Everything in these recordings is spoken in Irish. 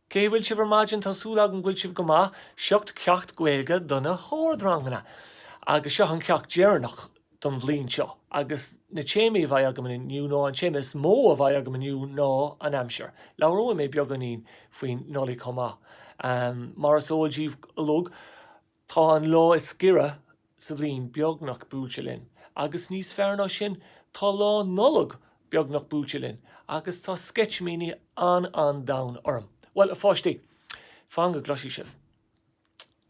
Cén chaoi a bhfuil sibh ar maidin? Tá súil agam go bhfuil sibh go maith. Seo ceacht Gaeilge do na hardranganna! Agus seo an ceacht deireanach don bhliain seo. Agus na téamaí a bheidh agam inniu ná, an téama is mó a bheidh agam inniu ná an aimsir. Labhróidh mé beagáinín faoin Nollaig chomh maith. Mar is eol díbh uilig, Tá an lá is giorra sa bhliain beagnach buailte linn, agus níos fearr ná sin, tá Lá Nollag beagnach buailte linn, agus tá sceitimíní an domhain orm. Bhuel, a pháistí, fan go gcloisfidh sibh.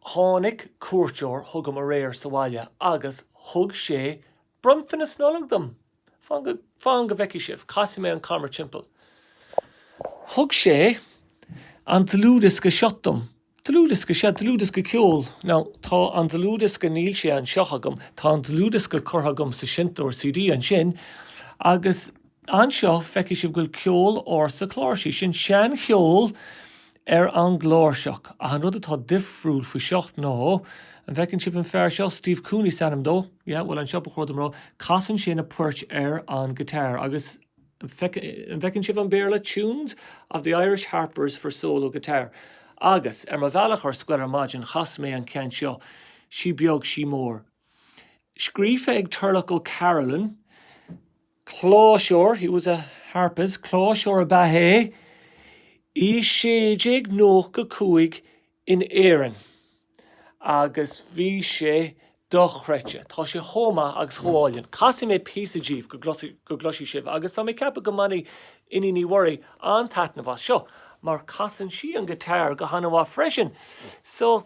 Tháinig cuairteoir chugam aréir sa bhaile agus thug sé bronntanas Nollag dom! Fan go bhfeicfidh sibh. Casfaidh mé an camera timpeall. Thug sé an dlúthdhiosca seo dom. Dlúthdhiosca? Sea, dlúthdhiosca ceoil. Now, tá an dlúthdhiosca, níl sé anseo agam, tá an dlúthdhiosca curtha agam sa seinnteoir CD ansin, agus anseo, feicfidh sibh go bhfuil ceol ársa cláirsí, sin seancheol ar an gcláirseach. Ach an rud atá difriúil faoi seo ná, an bhfeiceann sibh an fear seo? Steve Cooney is ainm dó. Yeah, bhuel, anseo ba chóir dom a rá, casann sé na poirt ar an guitar agus an bhfeiceann sibh an Béarla? Tunes of the Irish Harpers for Solo Guitar. Agus, ar mo bhealach ar scoil ar maidin, chas mé an ceann seo, Sí Beag Sí Mór. Scríofa ag Turlough O'Carolan. Cláirseoir, he was a harpist, cláirseoir ab ea é i 1695 in Éirinn agus bhí sé dochreidte. Tá sé chomh maith agus chomh álainn. Casfaidh mé píosa díbh go gcloisfidh sibh agus tá mé ag ceapadh go mbainfidh Iníon Ní Mhuirí an-taitneamh as seo mar casann sí an guitar go han-mhaith freisin. So.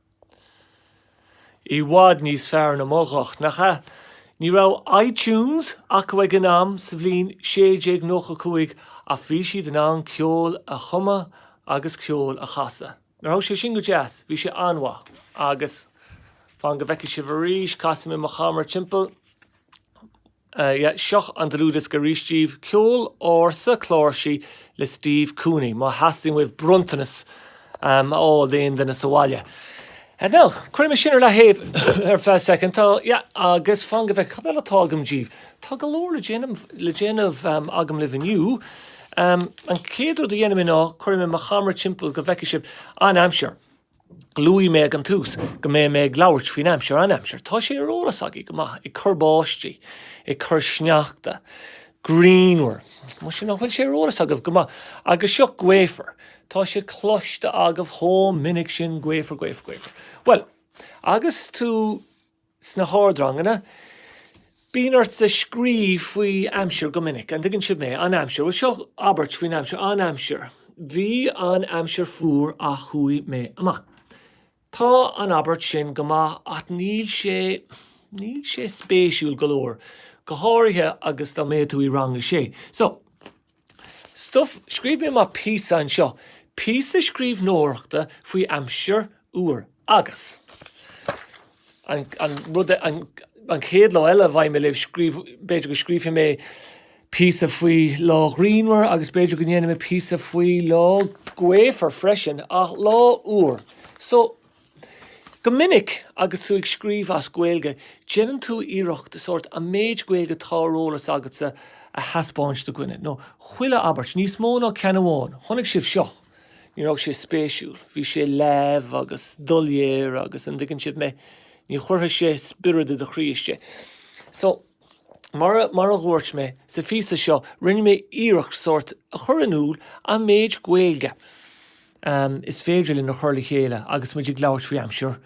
I bhfad níos fearr ná mo ghuth, nach ea? Ní raibh iTunes acu ag an am, sa bhliain 1695, ach bhí siad in ann ceol a chumadh agus ceol a chasadh. Nach raibh sé sin go deas? Bhí sé an-mhaith. Agus, fan go bhfeicfidh sibh arís, casfaidh mé mo chamera timpeall. Ah yeah, seo an dlúthdhiosca arís díbh, ceol ársa cláirsí le Steve Cooney, má theastaíonn uaibh bronntanas a fháil d'aon duine sa bhaile. Now, cuirfidh mé sin ar leathaobh ar feadh soicind, tá, yeah, agus fan go bhfeicfidh, cad eile atá agam díbh? Tá go leor le déanamh agam libh inniu. An chéad rud a dhéanfaidh mé ná, cuirfidh mé mo chamera timpeall go bhfeicfidh sibh an aimsir. Luaigh mé ag an tús go mbeidh mé ag labhairt faoin aimsir, an aimsir. Tá sé ar eolas agaibh go maith, ag cur báistí, ag cur sneachta, grianmhar. Mar sin, an bhfuil sé ar eolas agaibh go maith? Agus seo, gaofar. Tá sé cloiste agaibh chomh minic sin, gaofar, gaofar, gaofar. Bhuel, agus tú. Sna hardranganna, bíonn ortsa scríobh faoi aimsir go minic. An dtuigeann sibh mé? An aimsir. Bhuel, seo abairt faoin aimsir. An aimsir. Bhí an aimsir fuar ach chuaigh mé amach. Tá an abairt sin go maith ach níl sé, níl sé spéisiúil go leor, go háirithe agus dá mbeadh tú i Rang a Sé. So. So, scríobh mé mo phíosa anseo, píosa scríbhneoireachta faoi aimsir fhuar agus. an, an rud e, an, an chéad lá eile a mbeidh mé libh, scríobh, b'fhéidir go scríobhfaidh mé píosa faoi lá ghrianmhar agus b'fhéidir go ndéanfaidh mé píosa faoi lá gaofar freisin, ach lá fhuar. So. Go minic, agus tú ag scríobh as Gaeilge, déanann tú iarracht sórt an méid Gaeilge atá ar eolas agatsa a thaispeáint do dhuine, now, chuile abairt, níos mó ná ceann amháin, chonaic sibh seo, ní raibh sé spéisiúil, bhí sé leamh agus doiléir agus, an dtuigeann sibh mé, ní chuirfeadh sé spiorad i do chroí istigh. So, mar a, mar a dhúirt mé, sa bhfíseán seo, rinne mé iarracht sórt a chur in iúl an méid Gaeilge, Am, is féidir linn í a chur le chéile agus muid ag labhairt faoi aimsir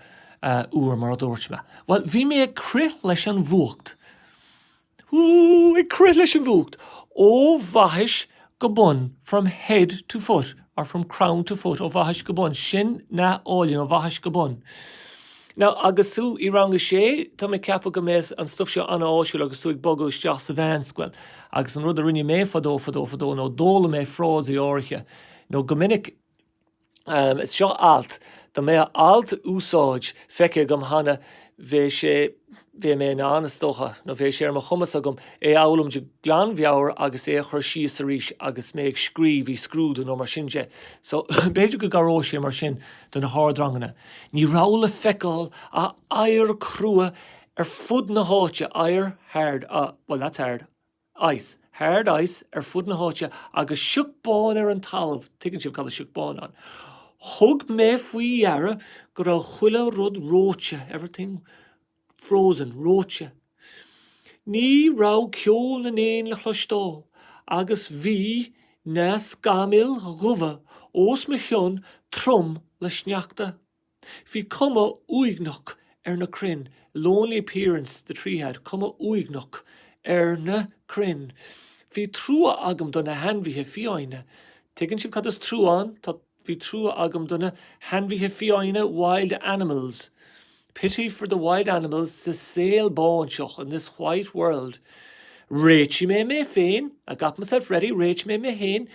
fhuar mar a dúirt mé. Bhuel, bhí mé ag crith leis an bhfuacht. Woo, ag crith leis an bhfuacht! Ó bhaithis go bun, from head to foot or from crown to foot, ó bhaithis go bun, sin nath álainn, ó bhaithis go bun. Now, agus tú i rang a sé, tá mé ag ceapadh go mbeadh an stuff seo an-áisiúil agus tú ag bogadh isteach sa mheánscoil. Agus an rud a rinne mé fadó fadó fadó nó d'fhoghlaim mé frásaí áirithe. nó go minic Seo alt, dá mbeadh alt úsáid feicthe agam cheana bheadh sé bheadh mé in ann, is dócha, nó bheadh sé ar mo chumas agam é a fhoghlaim de ghlanmheabhair agus é a chur síos arís agus mé ag scríobh i scrúdú nó mar sin de. So, b'fhéidir go gcabhróidh sé mar sin do na hardranganna. Ní raibh le feiceáil ach oighear crua ar fud na háite, oighear hard, well, that's hard. ice, hard ice ar fud na háite agus sioc bán ar an talamh, tuigeann sibh cad is sioc bán ann. Thug mé faoi dheara go raibh chuile rud reoite, everything frozen, reoite. Ní raibh ceol na n-éin le chloisteáil agus bhí na scamaill dhubha os mo chionn trom le sneachta. Bhí cuma uaigneach ar na crainn, lonely appearance the tree had, cuma uaigneach ar na crainn. Bhí trua agam do na hainmhithe fiáine. Tuigeann sibh cad is trua ann? Tá, Bhí trua agam do na hainmhithe fiáine, wild animals. Pity for the wild animals sa saol bán seo, in this white world. Réitigh mé mé féin, I got myself ready. Réitigh mé mé féin.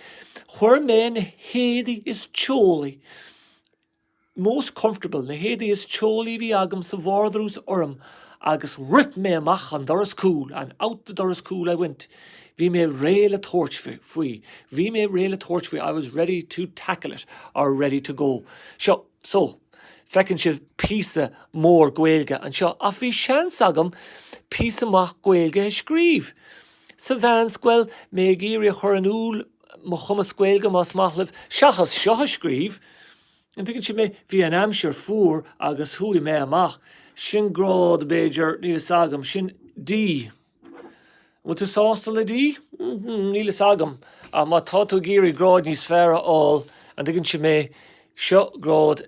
Chuir mé na héadaí is teolaí most comfortable, na héadaí is teolaí a bhí agam sa vardrús orm agus rith mé amach an doras cúil and out the doras cúil I went bhí mé réidh le tabhairt faoi, bhí mé réidh le tabhairt faoi I was ready to tackle it or ready to go so feiceann sibh píosa mór Gaeilge anseo ach bhí seans agam píosa maith Gaeilge a scríobh sa mheánscoil, mé ag iarraidh a chur in iúl mo chumas Gaeilge más maith libh, seachas seo a scríobh, an dtuigeann sibh mé, bhí an aimsir fuar agus chuaigh mé amach, sin grád b'fhéidir, níl fhios agam, sin D. An bhfuil tú sásta le D? Hm, níl fhios agam, ach má tá tú ag iarraidh grád níos fearr a fháil, an dtuigeann sibh mé, seo grád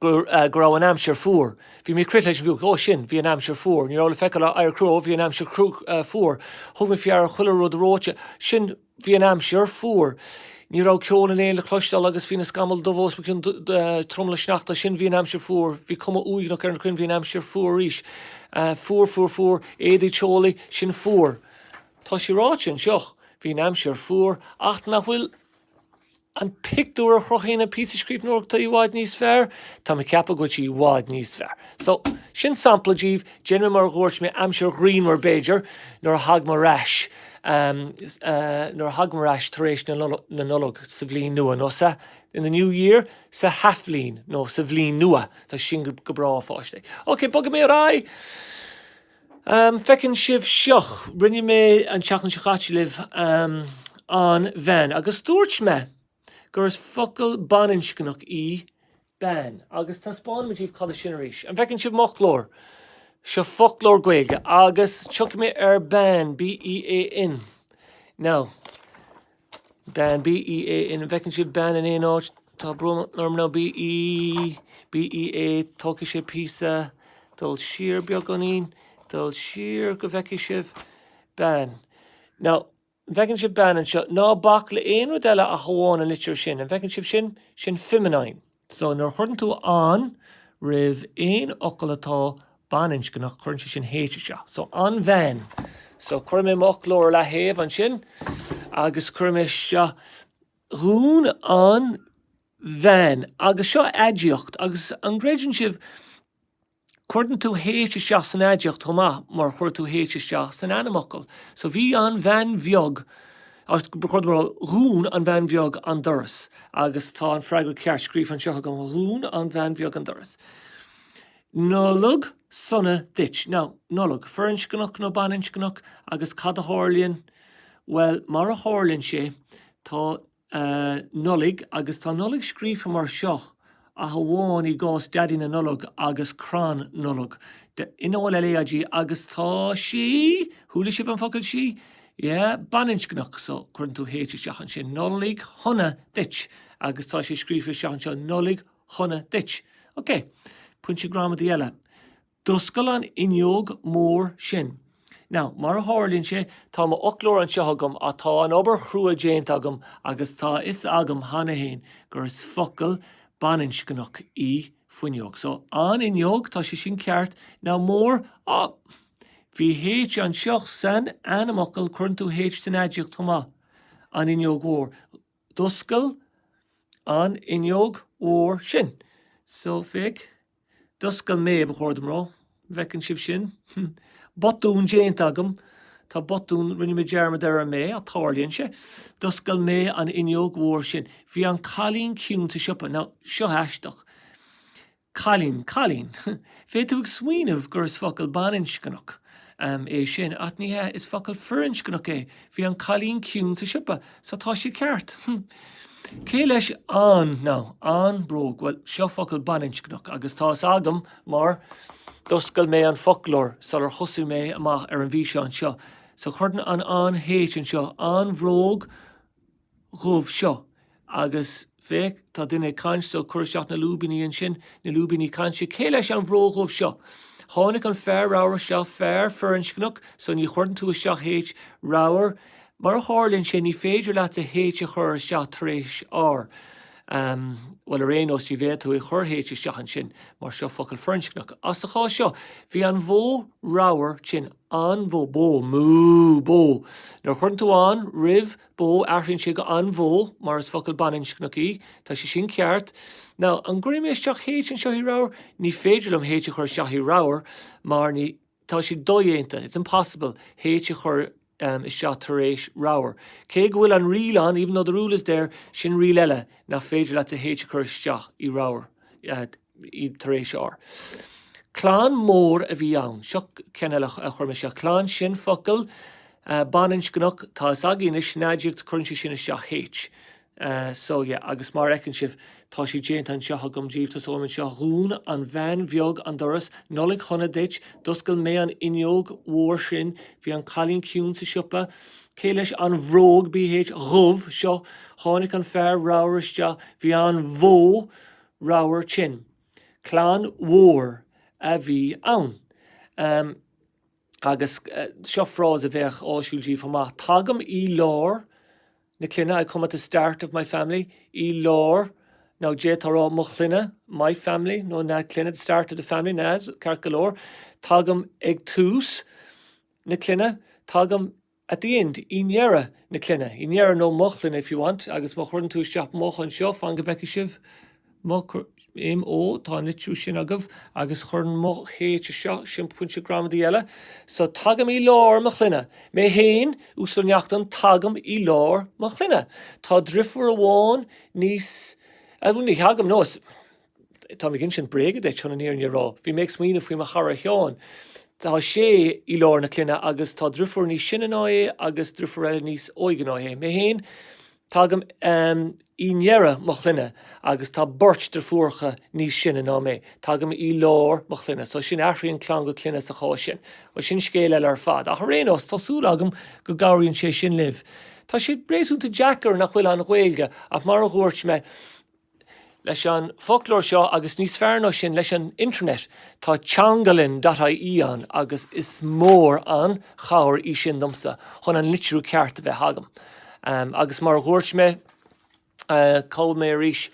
go raibh an aimsir fuar. Bhí mé ag crith leis an bhfuacht. Ó, sin, bhí an aimsir fuar. Ní raibh le feiceáil ach oighear crua. Bhí an aimsir fuar. Thug mé faoi deara chuile rud reoite. Sin, bhí an aimsir fuar. Ní raibh ceol an éin le cloisteáil agus bhí na scamaill dubha os mo chionn, trom le sneachta. Sin, bhí an aimsir fuar. Bhí cuma uaigneach ar na crainn. Bhí an aimsir fuar arís. Fuar, fuar, fuar. Éadaí teolaí. Sin fuar. Tá sé ráite anseo. Bhí an aimsir fuar. Ach nach bhfuil. an pictiúr a chruthaíonn an píosa scríbhneoireachta i bhfad níos fearr? Tá mé ag ceapadh go bhfuil sí i bhfad níos fearr. So, sin sampla daoibh. Déanfaidh mé mar a dhúirt mé, aimsir ghrianmhar b'fhéidir, nuair a thagaim ar ais, nuair a thagaim ar ais tar éis na Nollag sa bhliain nua, nó sa, in the new year, san athbhliain, nó sa bhliain nua. Tá sin go breá freisin. Ok, bogfaidh mé ar aghaidh! An bhfeiceann sibh seo? Rinne mé an tseachtain seo caite libh An Bhean agus dúirt mé gur focal baininscneach í bean agus taispeánfaidh mé daoibh cad é sin arís. An bhfeiceann sibh m'fhoclóir? Seo foclóir Gaeilge agus tiocfaidh mé ar bean, B-E-A-N, now. Bean B-E-A-N an bhfeiceann sibh bean in aon áit? Tá brón orm now B-E B-E-A Tógfaidh sé píosa dul siar beagáinín dul siar go bhfeicfidh sibh bean. Now, an bhfeiceann sibh bean anseo? Ná bac le aon rud eile ach amháin an litir sin. An bhfeiceann sibh sin? Sin feminine. So, nuair a chuireann tú an roimh aon fhocal atá baininscneach, cuireann sé sin H isteach. So, an bhean. So, cuirfidh mé mo fhoclóir a leathaobh ansin agus cuirfidh mé seo dhún an bhean. Agus seo aidiacht. Agus an gcreideann sibh Cuireann tú H isteach san aidiacht chomh maith mar a chuir tú H isteach san ainmfhocal. So bhí an bhean bheag, agus dhún an bhean bheag an doras. Agus tá an freagra ceart scríofa anseo agam, dhún an bhean bheag an doras. Nollaig sona duit. Now, Nollaig, firinscneach nó baininscneach? Agus cad a tharlaíonn, bhuel, mar a tharlaíonn sé, tá. a Nollaig agus tá Nollaig scríofa mar seo ach amháin i gcás Daidí na Nollag agus Crann Nollag. N O L L A I G agus tá sí! Chuala sibh an focal sí? Yeah, baininscneach, so cuireann tú H isteach ansin. Nollaig Shona duit! Agus tá sé scríofa isteach anseo Nollaig Shona duit! Okay. Pointe gramadaí eile. D'oscail an fhuinneog mór sin. Now, mar a tharlaíonn sé, tá mo fhoclóir anseo agam ach tá an obair chrua déanta agam agus tá a fhios agam cheana fhéin gur is focal baininscneach í fuinneog. So, an fhuinneog, tá sé sin ceart. Now, mór, ah, bhí H anseo san ainmfhocal, cuireann tú H san aidiacht chomh maith, an fhuinneog mhór. D'oscail an fhuinneog mhór sin. So, féach. D'oscail mé, ba chóir dom rá. An bhfeiceann sibh sin? Botún déanta agam. Tá botún, rinne mé dearmad ar an mé, ach tarlaíonn sé. D'oscail mé an fhuinneog mhór sin. Bhí an cailín ciúin sa siopa. Now, seo aisteach é. Cailín, cailín. Bheidh tú ag smaoineamh gur is focal baininscneach. é sin, ach ní hea, is focal firinscneach é, bhí an cailín ciúin sa siopa, so tá sé ceart. Hm. Cé leis an, nó an, bróg? Bhuel, seo focal baininscneach, agus tá fhios agam, mar d'oscail mé an foclóir sular thosaigh mé amach ar an bhfíseán seo, so cuireann an an h anseo, an bhróg, dhubh seo. Agus féach, tá duine ag caint, so cuir isteach na lúibíní ansin, na lúibíní cainte, cé leis an bhróg dhubh seo? Tháinig an fear ramhar seo, fear firinscneach, so ní chuireann tú isteach H, ramhar. Mar a tharlaíonn sé, ní féidir leat H a chur isteach tar éis R. Ahm, bhuel, ar aon nós, ní bheidh tú ag cur H isteach ansin, mar seo focal firinscneach. Ach sa chás seo, bhí an bhó ramhar tinn, an bhó, bó, moo, bó. Nuair a chuireann tú an, roimh, bó, athraíonn sé go an bhó, mar is focal baininscneach í. Tá sé sin ceart. Now, an gcuirfidh mé isteach H anseo i ramhar? Ní féidir liom H a chur isteach i ramhar mar ní, tá sé dodhéanta, it's impossible H a chur isteach tar éis ramhar. Cé go bhfuil an riail ann, even though the rule is there, sin riail eile, nach féidir leat H a chur isteach i ramhar. tar éis R. Clann mór a bhí ann. Seo ceann eile a chuir mé seo. Clann sin focal baininscneach, tá fhios againn anois sin aidiacht, cuireann sé sin isteach H. So yeah, agus mar a fheiceann sibh, tá sé déanta anseo agam díobh, tosóim anseo, Dhún an bhean bheag an doras, Nollaig Shona duit, D'oscail mé an fhuinneog mhór sin, Bhí an cailín ciúin sa siopa, Cé leis an bhróg, B H, dhubh, seo? Tháinig an fear ramhar isteach, Bhí an bhó. radharc sin. Clann mhór a bhí ann. Agus, seo frása a bheadh áisiúil díbh chomh maith, tagaim i lár na clainne, I come at the start of my family. I lár, now, d'fhéadfá a rá mo chlainne, my family, nó na clainne, the start of the family, na, ceart go leor. Tagaim ag tús na clainne. Tagaim at the end, i ndeireadh na clainne, i ndeireadh nó mo chlainne if you want, agus má chuireann tú isteach mo anseo, fan go bhfeicfidh sibh mo, m o, tá an litriú sin agaibh, agus cuireann mo h anseo, sin pointe gramadaí eile, so tagaim i lár mo chlainne, mé féin, Uasal Neachtain, tagaim i lár mo chlainne, tá driofúr amháin níos, ní thagaim, no, Tá mé ag insint bréaga duit, chun an fhírinne a rá. Bhí mé ag smaoineamh faoi mo chara Seán. Tá sé i lár na clainne agus tá driofúr níos sine ná é agus driofúr eile níos óige ná é. Mé féin, tagaim i ndeireadh mo chlainne agus tá beirt driofúracha níos sine ná mé. Tagaim i lár mo chlainne. So sin, athraíonn clann go clainne sa chás sin. Bhuel, sin scéal eile ar fad. Ach ar aon nós, tá súil agam go gcabhraíonn sé sin libh. Tá sé réasúnta deacair, nach bhfuil, an Ghaeilge, ach mar a dhúirt mé, leis an bhfoclóir seo agus níos fearr ná sin leis an Internet. Tá teanglann dot IE ann agus is mór an chabhair í sin domsa chun an litriú ceart a bheith agam. Agus mar a dhúirt mé, cúpla uair arís,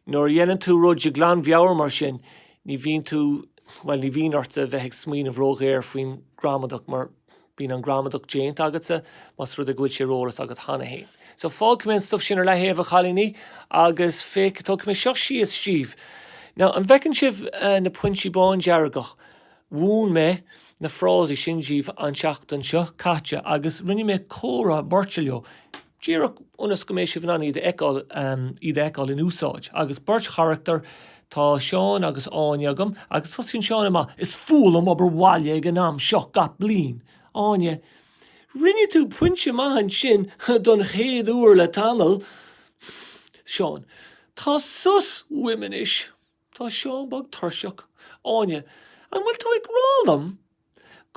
nuair a dhéanann tú rud de ghlanmheabhair mar sin, ní bhíonn tú, bhuel, ní bhíonn ort a bheith ag smaoineamh róghéar faoin ghramadach mar Bíonn an ghramadach déanta agatsa más rud é go bhfuil sé ar eolas agat cheana féin. So, fágfaidh mé an stuff sin ar leathaobh, a chailíní, agus féach, tógfaidh mé seo síos díbh. Now, an bhfeiceann sibh na pointí bándearga? Mhúin mé na frásaí sin díbh an tseachtain seo caite, agus rinne mé comhrá beirte leo. díreach ionas go mbeidh sibh in ann iad a fheiceáil, iad a fheiceáil in úsáid, agus beirt charachtar, tá Seán agus Áine agam, agus tosaíonn Seán amach, Is fuath liom obair bhaile ag an am seo gach bliain! Áine, Rinne tú pointe maith ansin, don chéad uair le tamall! Seán, Tá sos uaim anois! Tá Seán beag tuirseach. Áine, An bhfuil tú ag rá liom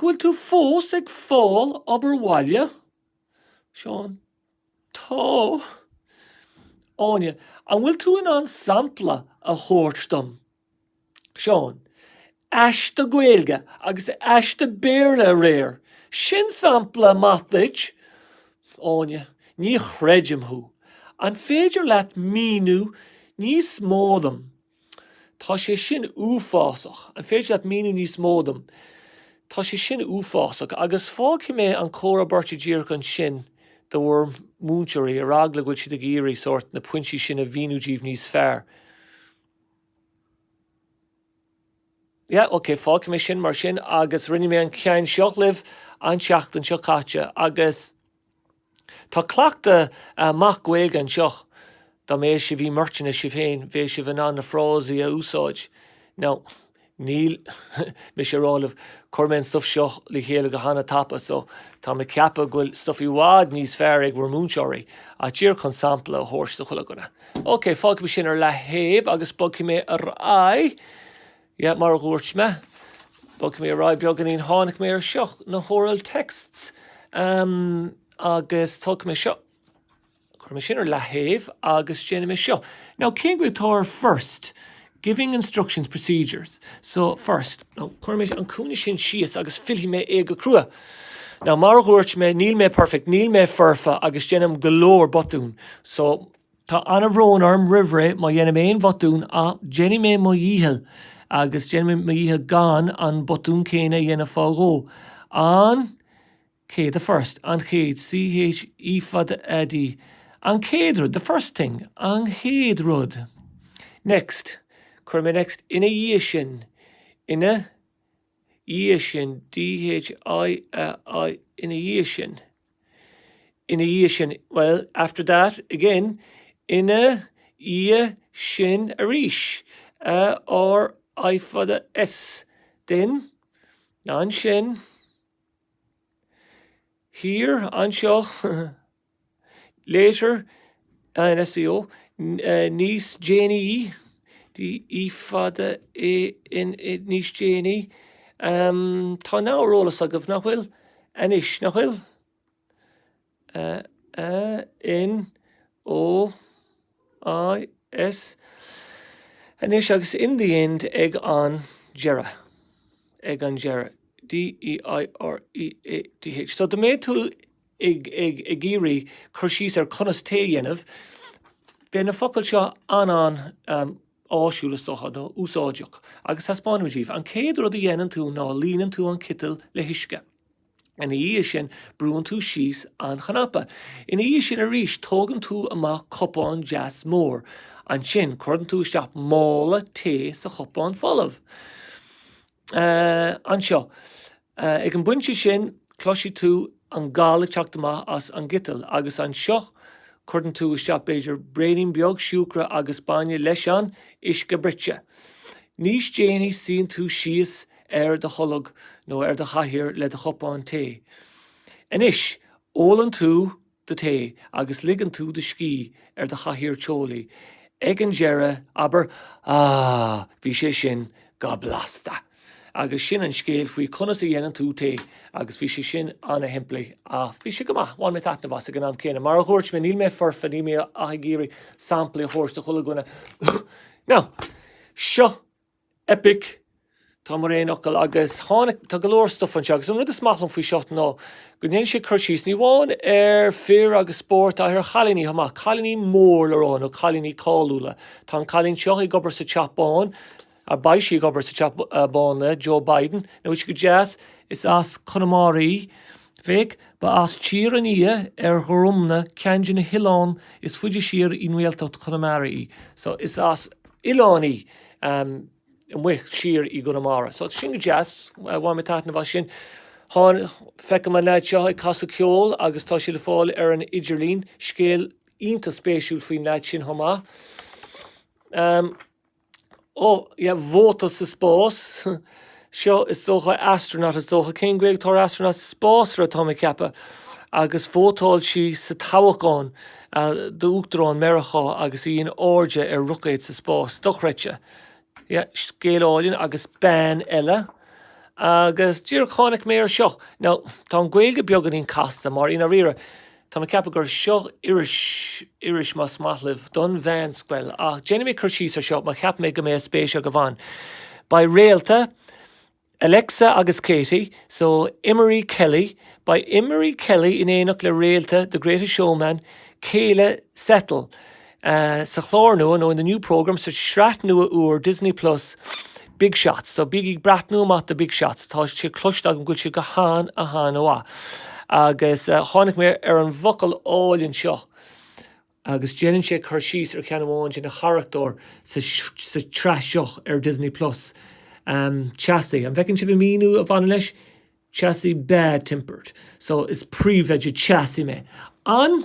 go bhfuil tú fós ag fáil obair bhaile? Seán, Tá. Áine, An bhfuil tú in ann sampla a thabhairt dom? Seán, Aiste Gaeilge agus aiste Béarla aréir, sin sampla maith duit! Áine, Ní chreidim thú. An féidir leat a mhíniú níos mó dom Tá sé sin uafásach. An féidir leat míniú níos mó dom? Tá sé sin uafásach. Agus fágfaidh mé an comhrá beirte díreach ansin do bhur múinteoirí, ar eagla go bhfuil siad ag iarraidh sórt na pointí sin a mhíniú díbh níos fearr. Yeah, ok, fágfaidh mé sin mar sin agus rinne mé an ceann seo libh an tseachtain seo caite agus. Tá cleachtadh maith Gaeilge anseo. Dá mbeadh sibh i mbeirteanna sibh féin, bheadh sibh in ann na frásaí a úsáid. Now, níl mise ag rá libh, chuir mé an stuff seo le chéile go han-tapa, so tá mé ag ceapadh go bhfuil stuff i bhfad níos fearr ag bhur múinteoirí. Ach díreach chun sampla a thabhairt do chuile dhuine. Ok, fágfaidh mé sin ar leathaobh agus bogfaidh mé ar aghaidh. Yeah, mar a dhúirt mé, bogfaidh mé ar aghaidh beagáinín. Tháinig mé ar seo, na horal texts, em, agus tógfaidh mé seo, cuirfidh mé sin ar leataobh agus déanfaidh mé seo. Now, cén Ghaeilge atá ar first? Giving instructions, procedures. So, first, now, cuirfidh mé an cúinne sin síos agus fillfidh mé é go crua. Now, mar a dhúirt mé, níl mé perfect, níl mé foirfe agus déanaim go leor botún. So. Tá an-bhrón orm roimh ré má dhéanaim aon bhotún ach déanfaidh mé mo dhícheall agus déanfaidh mé mo dhícheall gan an botún céanna a dhéanamh fá dhó. An chéad the first an chéad C H E fada A D an chéad rud the first thing an chéad rud next cuirfidh mé next ina dhiaidh sin ina dhiaidh sin D H I A I ina dhiaidh sin ina dhiaidh sin well, after that, again ina dhiaidh sin arís A R I fada S then ansin here anseo. A N S E O. Later, Níos déanaí, D E fada A N níos déanaí, em, tá now ar eolas agaibh, nach bhfuil? anois, nach bhfuil? eh, eh, N, O, I, S, anois agus in the end ag an deireadh, ag an deireadh, D E I R E A D H. So, dá mbeadh tú. ag iarraidh cur síos ar conas tae a dhéanamh, beidh na focail seo an-an áisiúil is dócha, nó úsáideach, agus taispeánfaidh mé daoibh. An chéad rud a dhéanann tú ná líonann tú an citeal le huisce. Ina dhiaidh sin brúann tú síos an cnaipe. Ina dhiaidh sin arís tógann tú amach cupán deas mór. Ansin cuireann tú isteach mála tae sa chupán folamh. Anseo, ag an bpointe sin, cloisfidh tú an gal ag teacht amach as an gciteal, agus anseo cuireann tú isteach, b'fhéidir, braonín beag siúcra agus bainne leis an uisce bruite. Níos déanaí suíonn tú síos ar do tholg nó ar do chathaoir le do chupán tae. Anois, ólann tú. do tae agus ligeann tú do scíth ar do chathaoir teolaí, ag an deireadh, abair, Ah, bhí sé sin go blasta! Agus sin an scéal faoi conas a dhéanann tú tae, agus bhí sé sin an-shimplí, ach bhí sé go maith, bhain mé taitneamh as, ag an am céanna. Mar a dhúirt mé, níl mé foirfe, níl mé ach ag iarraidh samplaí a thabhairt do chuile dhuine. Now, seo. Eipic, tá mar aon fhocal agus tháinig, tá go leor stuff anseo agus an rud is maith liom faoi seo ná go ndéanann sé cur síos ní amháin ar fir agus spórt ach ar chailíní chomh maith, cailíní mór le rá nó cailíní cáiliúla. Tá an cailín seo ag obair sa Teach Bán, a beidh sí ag obair sa Teach Bán le Joe Biden, nach bhfuil sé go deas? is as Conamara í, féach, ba as Tír an Fhia ar Ghorumna, ceann de na hoileáin is faide siar i nGaeltacht Chonamara í, so is as oileán í. am amuigh siar i gConamara. So sin go deas, bhain mé taitneamh as sin. Tháin, feicim an leaid seo ag casadh ceol agus tá sé le fáil ar an idirlíon, scéal iontach spéisiúil faoin leaid sin chomh maith. Am, oh, yeah, vóta sa spás. seo, is dócha, astronaut, is dócha, cén Ghaeilge atá ar astronaut? spásaire, tá mé ag ceapadh, agus vótáil sí sa toghachán d'Uachtarán Meiriceá agus í in airde ar roicéad sa spás. Dochreidte. Yeah, scéal áilinn agus bean eile. Agus díreach tháinig mé ar seo. Now, tá an Ghaeilge beaganín casta mar, i ndáiríre, Tá mé ag ceapadh gur seo iris, más maith libh, don mheánscoil, ach déanfaidh mé cur síos ar seo mar cheap mé go mbeadh spéis agaibh ann. Beidh réalta, Alexa agus Katie, so, Emery Kelly, beidh Emery Kelly in éineacht le réalta The Greatest Showman, Keala Settle, sa chlár nua, nó in the new programme, sa tsraith nua úr Disney Plus, Big Shots. So bígí ag breathnú amach do Big Shots, tá sé cloiste agam go bhfuil sé go han, han-mhaith. Agus tháinig mé ar an bhfocal álainn seo, agus déanann sé cur síos ar cheann amháin de na charachtair sa tsraith seo ar Disney Plus, teasaí. An bhfeiceann sibh an míniú a bhaineann leis? Teasaí, bad-tempered. So is príomhoide teasaí mé. An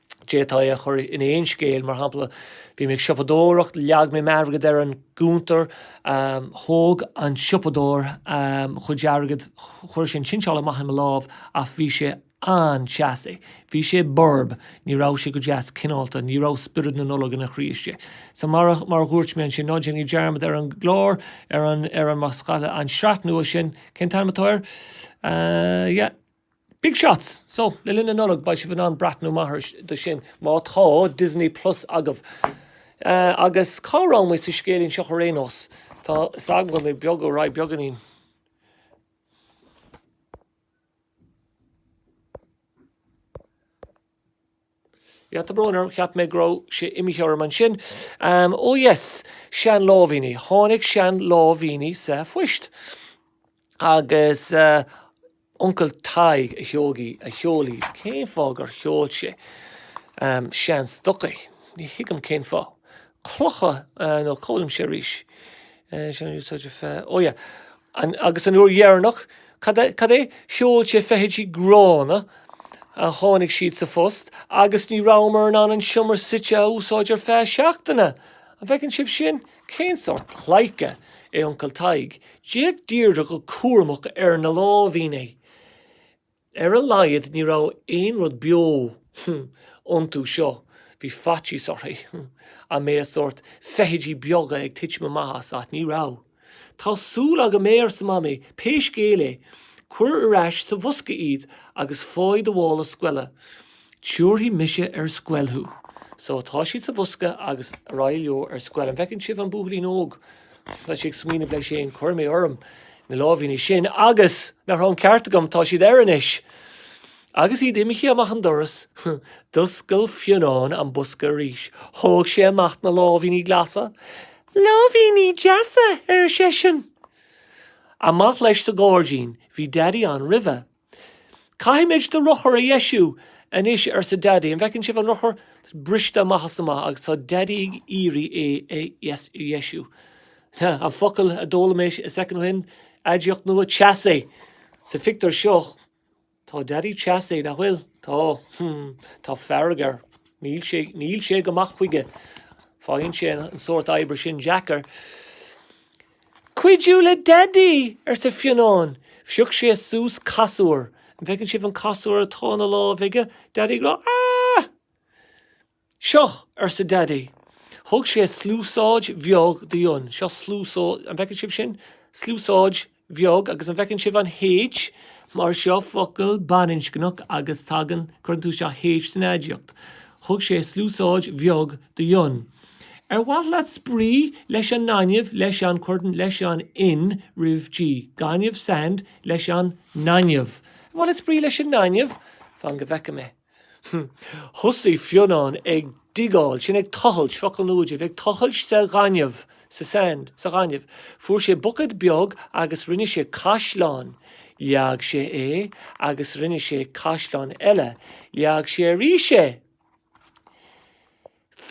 D'fhéadfaí é a chur in aon scéal, mar shampla, bhí mé ag siopadóireacht, leag mé m'airgead ar an gcuntar, thóg an siopadóir mo chuid airgid, chuir sé an tsinseáil i mo lámh, ach bhí sé an-teasaí, bhí sé borb, ní raibh sé go deas cineálta, ní raibh spiorad na Nollag ina chroí istigh. So, mar a dhúirt mé ansin, ná déanaigí dearmad ar an gclár, ar an, ar an, má scaoileadh an sraith nua sin, cén t-ainm atá air? Yeah. Big shots! So, le linn na Nollag, beidh sibh in ann breathnú maith air do sin, má tá Disney Plus agaibh. Agus cá raibh muid sa scéilín seo ar aon nós? Tá 'fhios agam go mbím ag dul ar aghaidh beagainín. Tá brón orm, cheap mé go raibh sé imithe orm ansin. Ó yes, sean láimhíní. Tháinig sean láimhíní sa phoist. Agus Uncail Tadhg a sheog í, a sheol í. Cén fáth gur sheol sé sean stocaí? Ní thuigim cén fáth. Clocha nó cófhoghlaim sé arís. Sean úsáide feadh, ó yeah. An, agus an uair dheireanach, cad é? Sheol sé feithidí gránna. a tháinig siad sa phost agus ní rabhamar in ann an seomra suite a úsáid ar feadh seachtaine. An bhfeiceann sibh sin? Cén sórt pleidhce é Uncail Tadhg? D'fhéach Deirdre go cúramach ar na láimhíní. Ar a laghad ní raibh aon rud beo iontu seo, bhí faitíos uirthi an mbeadh sórt feithidí beaga ag titim amach as, ach ní raibh. Tá súil agam gurb ea, arsa Mamaí, pé scéal é, cuir ar ais sa bhosca iad agus faigh do mhála scoile. Tiúrfaidh mise ar scoil thú. So, tá siad sa bhosca agus ar aghaidh leo ar scoil. An bhfeiceann sibh an buachaillín óg? Tá sé ag smaoineamh leis féin, Cuirfidh mé orm na láimhíní sin agus, nach raibh an ceart agam, tá siad air anois. Agus iad imithe amach an doras, d'oscail Fionnán an bosca arís. Thóg sé amach na láimhíní glasa. Láimhíní deasa! ar seisean. Amach leis sa ghairdín. Bhí Daidí ann roimhe. Caithfimid do rothar a dheisiú anois, arsa Daidí. An bhfeiceann sibh an rothar? Tá sé briste amach is amach agus tá Daidí ag iarraidh é a dheisiú. Tá, an focal a d'fhoghlaim mé soicind ó shin, aidiacht nua, teasaí! Sa phictiúr seo, tá Daidí teasaí, nach bhfuil? Tá. Tá fearg air. Níl sé, níl sé go maith chuige. Faigheann sé an sórt oibre sin deacair. Cuidiú le Daidí! arsa Fionnán. Phioc sé suas casúr. An bhfeiceann sibh an casúr atá ina lámh aige, Daidí go... ah! Seo! arsa Daidí. Thug sé sluasáid bheag d'Fhionn. Seo sluasáid, an bhfeiceann sibh sin? Sluasáid bheag, agus an bhfeiceann sibh an H? Mar seo focal baininscneach agus tagann, cuireann tú seo H san aidiacht. Thug sé sluasáid bheag d'Fhionn. Ar mhaith leat spraoi leis an ngaineamh, leis an, cuirtear, leis an, an N, roimh, G, gaineamh, sand, leis an ngaineamh? Ar mhaith leat spraoi leis an ngaineamh? Fan go bhfeicfidh mé. Thosaigh Fionnán ag diggáil, sin ag tochailt, focal nua díbh, ag tochailt sa ghaineamh, sa sand, sa ghaineamh. Fuair sé bucket beag agus rinne sé caisleán. Leag sé é agus rinne sé caisleán eile. Leag sé arís é.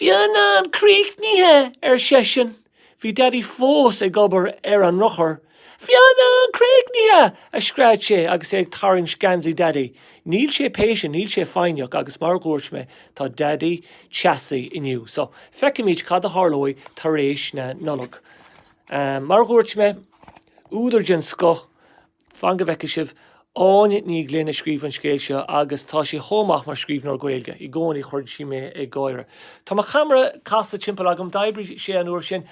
Fionnán críochnaithe! ar seisean. Bhí Daidí fós ag obair ar an rothar. Fionnán críochnaithe! a scread sé agus é ag tarraingt geansaí Daidí. Níl sé patient, níl sé foighneach agus mar a dhúirt mé, tá Daidí teasaí inniu. So, feicfimid cad a tharlóidh tar éis na Nollag. Mar a dhúirt mé, údar den scoth. Fan go bhfeicfidh sibh. Áine Ní Ghlinn a scríobh an scéal seo agus tá sé chomh maith mar scríbhneoir Gaeilge. I gcónaí cuireann sí mé ag gáire. Tá mo cheamara casta timpeall agam, d'oibrigh sé an uair sin.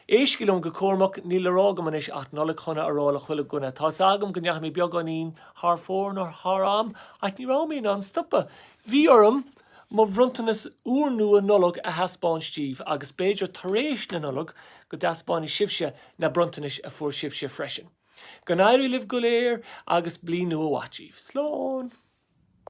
Éistigí liom go cúramach, níl le rá agam anois ach Nollaig Shona a rá le chuile dhuine. Tá 'fhios agam go ndeachaigh mé beagáinín thar fóir nó thar am ach ní raibh mé in ann stopadh. Bhí orm mo bhronntanas úrnua Nollag a thaispeáint díbh agus b'fhéidir tar éis na Nollag go dtaispeánfaidh sibhse na bronntanais a fuair sibhse freisin. Go n-éirí libh go léir agus Bliain Nua Mhaith díbh. Slán!